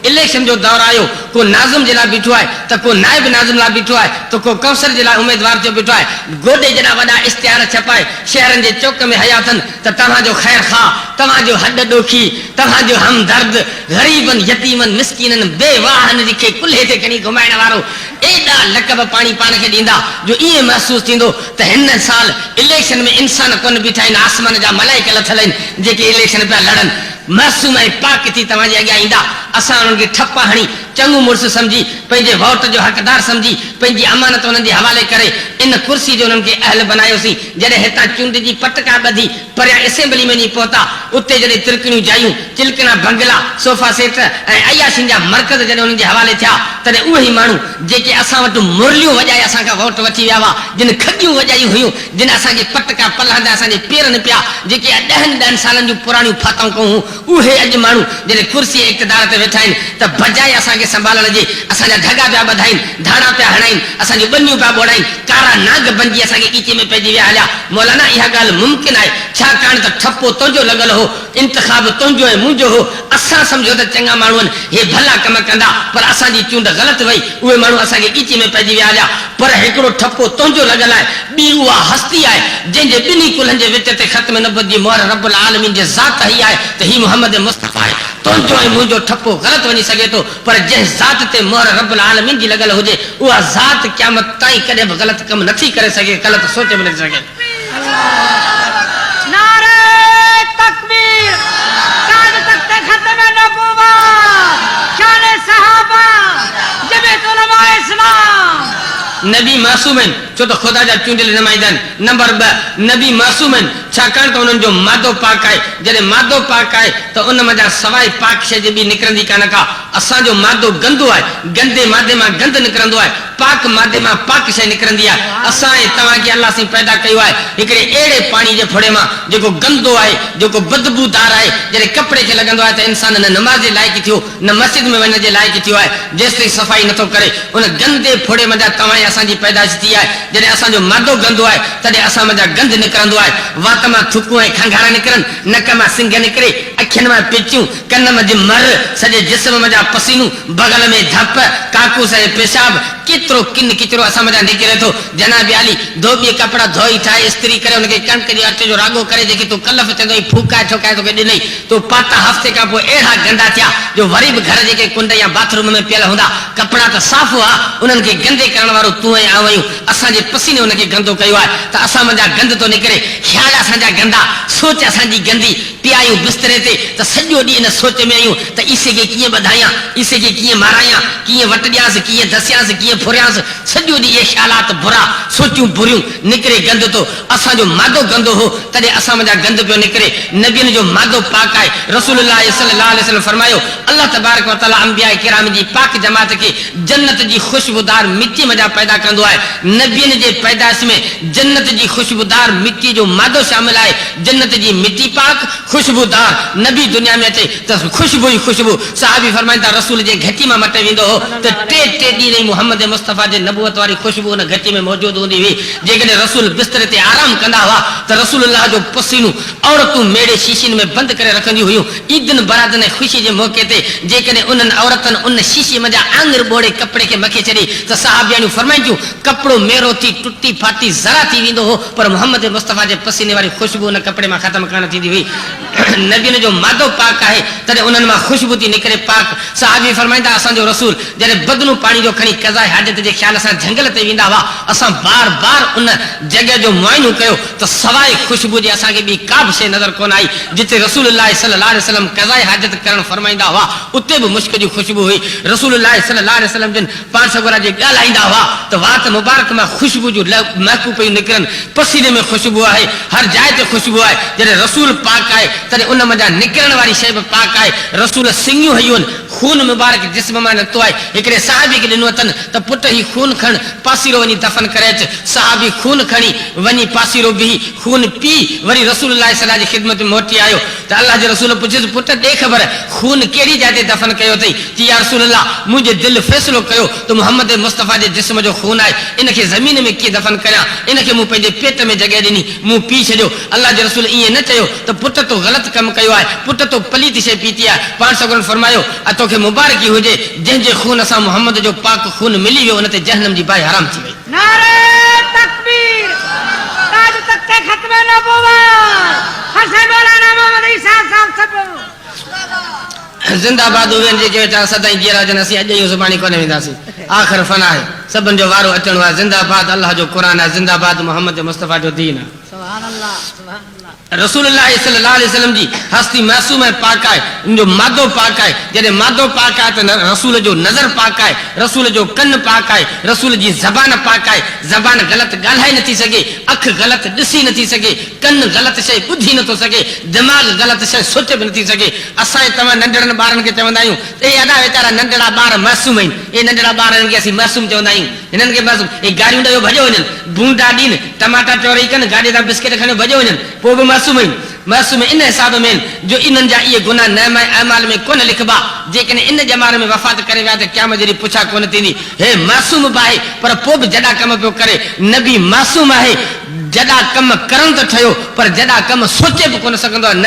Election جو دور آيو، ڪو ناظم جي لاء بيٺو آهي ته ڪو نائب ناظم لاء بيٺو آهي ته ڪو ڪونسل جي لاء اميدوار ٿيو بيٺو آهي. گوڏي جيڏا وڏا اشتهار ڇپائي شهرن جي چوڪ ۾ هيا اٿن ته توهان جو خير خواهه، توهان جو هڏ ڏوکي، توهان جو همدرد، غريبن، يتيمن، مسڪينن، بيواهن جي کي ڪلهي تي کڻي گهمائڻ وارو ايڏا لقب پاڻي پاڻ کي ڏيندا جو ائين محسوس ٿيندو ته هن سال اليڪشن ۾ انسان ڪونه بيٺا آهن آسمان جا ملائڪ لٿل آهن جيڪي اليڪشن پيا لڙن. معصوم ۽ پاڪ ٿي توهان جي اڳيان ايندا، اسان انهن کي ٺپا هڻي، چڱو مڙس سمجهي، پنهنجي ووٽ جو حقدار سمجهي، پنهنجي امانت انهن جي حوالي ڪري، ان ڪرسي جو انهن کي اهل بنايوسين، جڏهن هتان چونڊجي پٽڪا ٻڌي، پريان اسيمبلي ۾ وڃي پهتا، اتي جڏهن ترڪڻيون جايون، چلڪڻا بنگلا، صوفا سيٽ ۽ عياشين جا مرڪز جڏهن انهن جي حوالي ٿيا، تڏهن اهي ئي ماڻهو، جيڪي اسان وٽ مرليون وڄائي اسان کان ووٽ وٺي ويا هئا، جن کڳيون وڄايون هيون، جن اسان جي پٽ ڪا پلهه هنڌ اسان جي پير نه پيا، جيڪي اڄ ڏهن ڏهن سالن جون پراڻيون ڦاتائون ڪئون هون، اهي اڄ ماڻهو جڏهن ڪرسي ۽ اقتدار تي ويٺا آهن ته بجاء اسان کي سنڀالڻ جي اسان جا ڍڳا پيا ٻڌائين، ڌاڙا پيا هڻائين، اسان جون ٻنيون پيا ٻوڙائين، ڪارا نانگ بنجي اسان کي ڳچي ۾ پئجي ويا هليا. مولانا اها ڳالهه ممڪن آهي، ڇاڪاڻ ته ٺپو تنهنجو لڳل هو، انتخاب تنهنجو ۽ منهنجو هو، اسان سمجهيو ته چڱا ماڻهو آهن، هي ڀلا ڪم ڪندا، پر اسان جي چونڊ غلط وئي، اهي ماڻهو اسان کي ڳچيء ۾ پئجي ويا هليا. پر هڪڙو ٺپو تنهنجو لڳل آهي، ٻي اها هستي آهي، جنهن جي ٻنهي ڪلهن جي وچ تي ختم نبوت جي مهر رب العالمين جي ذات هئي آهي ته هي محمد مصطفيٰ آهي. تنهنجو ۽ منهنجو ٺپو غلط وڃي سگهي ٿو، پر جنهن ذات تي مهر رب العالمين جي لڳل هجي، اها ذات قيامت تائين ڪڏهن به غلط ڪم نٿي ڪري سگهي، غلط سوچ به نٿي سگهي. نبي معصوم آهن، ڇو ته خدا جا چونڊيل نمائندا آهن. نمبر ٻه، نبي معصوم آهن، ڇاڪاڻ ته انهن جو مادو پاڪ آهي. جڏهن مادو پاڪ آهي ته ان منجهان سواء پاڪ شيء جي ٻي نڪرندي ڪانه ڪا. اسان جو مادو گندو آهي، گندي مادي مان گند نڪرندو آهي. پاڪ مادي مان پاڪ شيء نڪرندي آهي. اسان ۽ توهان کي الله سائين پيدا ڪيو آهي هڪڙي اهڙي پاڻي جي ڦڙي مان جيڪو گندو آهي، جيڪو بدبو دار آهي، جڏهن ڪپڙي کي لڳندو آهي ته انسان نه نماز جي لائق ٿيو، نه مسجد ۾ وڃڻ جي لائق ٿيو آهي، جيستائين صفائي نٿو ڪري. ان گندي ڦڙي منجهان توهان ۽ اسان جي پيدائش ٿي آهي. جڏهن اسان جو مادو گندو آهي، تڏهن اسان منجهان گند نڪرندو آهي. وات مان ٿڪون ۽ کنگهارا نڪرن، نڪ مان سنگهه نڪري، اکين مان پچيون، ڪن منجهه مر، سڄي جسم منجهان پسينو، بغل ۾ ڌپ، ڪاڪوس ۽ پيشاب، ڪيترو ڪن ڪچرو اسان منجهان نڪري ٿو. جناب عالي، ڌوٻيء ڪپڙا ڌوئي، ٺاهي، استري ڪري، ان کي ڪڻڪ جي اٽي جو راڳو ڪري، جيڪي تون ڪلف چوندو هئين، ڦوڪائي ٺوڪائي توکي ڏنئي. تون پاتا، هفتي کان پوء اهڙا گندا ٿيا، جو وري به گهر جي ڪنهن ڪنڊ يا باٿ روم ۾ پيل هوندا. ڪپڙا ته صاف هئا، انهن کي گندي ڪرڻ وارو تون ۽ آئون آهيون. اسان جي پسيني ان کي گندو ڪيو آهي، ته اسان منجهان گند ٿو نڪري. خيال اسان جا گندا، سوچ اسان جي گندي. پيايون بستري تي ته سڄو ڏينهن ان سوچ ۾ آهيون ته عيسيء کي ڪيئن ٻڌايان، عيسيء کي ڪيئن مارايان، ڪيئن وٽ ڏيانس، ڪيئن دسيانس، ڪيئن ڦريانس، سڄو ڏينهن اهي خيالات برا، سوچون بريون، نڪري گند ٿو، اسان جو مادو گندو هو، تڏهن اسان منجهان گند پيو نڪري، نبين جو مادو پاڪ آهي، رسول الله صلي الله عليه وسلم فرمايو، الله تبارڪ و تعاليٰ انبياء ڪرام جي پاڪ جماعت کي جنت جي خوشبودار مٽيء منجهان پيدا ڪندو آهي، نبين جي پيدائش ۾ جنت جي خوشبودار مٽيء جو مادو شامل آهي، جنت جي مٽي پاڪ، خوشبودار، نبي دنيا ۾ اچي ته خوشبو ئي خوشبو، صحابي فرمائن ٿا رسول جنهن گهٽي مان مٽ ويندو هو ته ٽي ٽي ڏينهن تائين محمد مصطفيٰ جي نبوت واري خوشبو ان گهٽي ۾ موجود هوندي هئي، جيڪڏهن رسول بستري تي آرام ڪندا هئا ته رسول الله جو پسينو عورتون ميڙي شيشين ۾ بند ڪري رکنديون هيون، عيدن براتن ۽ خوشي جي موقعي تي جيڪڏهن انهن عورتن ان شيشي منجهان آڱر ٻوڙي ڪپڙي کي مکي ڇڏي ته صحابياڻيون فرمائن ٿيون ڪپڙو ميرو ٿي ٽٽي ڦاٽي ذرا ٿي ويندو هو، پر محمد مصطفيٰ جي پسيني واري خوشبو ان ڪپڙي مان ختم ڪانه ٿيندي هئي. نبين جو مادو پاڪ آهي، تڏهن انهن مان خوشبو ٿي نڪري. پاڪ صحابي فرمائين ٿا، اسان جو رسول جڏهن بدنون پاڻي جو کڻي قضاء حاجت جي خيال سان جهنگل تي ويندا هئا، اسان بار بار ان جڳهه جو معائنو ڪيو ته سواء خوشبو جي اسان کي ٻي ڪابه شيء نظر ڪونه آئي. جتي رسول الله صلي الله عليه وسلم قضاء حاجت ڪرڻ فرمائيندا هئا، اتي به مشڪ جي خوشبو هئي. رسول الله صلي الله عليه وسلم جن پاڻ سڳورا جي ڳالهائيندا هئا ته وات مبارڪ مان خوشبو جون لئه مهڪون پيون نڪرن، پسيني ۾ خوشبو آهي، هر جاء تي خوشبو آهي، جڏهن رسول پاڪ آهي تڏهن ان منجهان نڪرڻ واري شيء به پاڪ آهي، رسول سڱيون هيون، خون مبارڪ جسم مان نڪتو آهي، هڪڙي صحابي کي ڏنو اٿن ته پٽ هي خون کڻ پاسيرو وڃي دفن ڪري اچ، صحابي خون کڻي وڃي پاسيرو بيهي خون پي وري رسول الله صلعه جي خدمت ۾ موٽي آيو، ته الله جي رسول پڇيس، پٽ ڏي خبر، خون ڪهڙي جاء تي دفن ڪيو اٿئي؟ چي، يا رسول الله! منهنجي دل فيصلو ڪيو ته محمد مصطفيٰ جي جسم جو خون آهي، ان کي زمين ۾ ڪيئن دفن ڪريان؟ ان کي مون پنهنجي پيٽ ۾ جڳهه ڏني، مون پي ڇڏيو. الله جي رسول ائين نه چيو ته پٽ تو غلط ڪم ڪيو آهي، پٽ تو پليت شيء پيتي آهي، پاڻ سڳورن فرمايو، ۽ توکي مبارڪي هجي، جنهن جي خون سان محمد جو پاڪ خون ملي ويو، ان تي جهنم جي باهه حرام ٿي وئي. نعري تڪبير تاج تخت ختم نبوت هر سائين مولانا محمد عيسيٰ صاحب سڀ. زنده باد اهي جيڪي ويٺا سدائين جيئرا هجن اسين اڄ ائين سڀاڻي ڪونه وينداسين آخر فنا آهي سڀن جو وارو اچڻو آهي زنده باد الله جو قرآن آهي زنده باد محمد مصطفيٰ جو دين آهي. رسول الله صلي الله عليه وسلم جي هستي معصومه ۽ پاڪ آهي، ان جو مادو پاڪ آهي، جڏهن مادو پاڪ آهي ته رسول جو نظر پاڪ آهي، رسول جو ڪن پاڪ آهي، رسول جي زبان پاڪ آهي، زبان غلط ڳالهائي نٿي سگهي، اک غلط ڏسي نٿي سگهي، ڪن غلط شيء ٻڌي نٿو سگهي، دماغ غلط شيء سوچي به نٿي سگهي. اسان ۽ توهان ننڍڙن ٻارن کي چوندا آهيون ته اي ادا ويچارا ننڍڙا ٻار معصوم آهن، اي ننڍڙا ٻار انهن کي اسين معصوم چوندا آهيون، هنن کي بس اهي گاريون ڏيو ڀڄيو وڃن، ڀونڊا ڏين، ٽماٽا ٽوري ڪن، گاڏي تان بسڪيٽ کڻيو ڀڄيو وڃن، پوء به معصوم آهن. معصوم ان حساب ۾ آهن جو انهن جا اهي گناهه نامه اعمال ۾ ڪونه لکبا، جيڪڏهن ان ڄمار ۾ وفات ڪري ويا ته قيامت جي ڏينهن پڇا ڪونه ٿيندي. هي معصوم به آهي پر پوء به جڏا ڪم پيو ڪري. نبي معصوم آهي، جڏا ڪم ڪرڻ ته ٺهيو پر جڏا ڪم سوچي به ڪونه سگهندو آهي. نبي.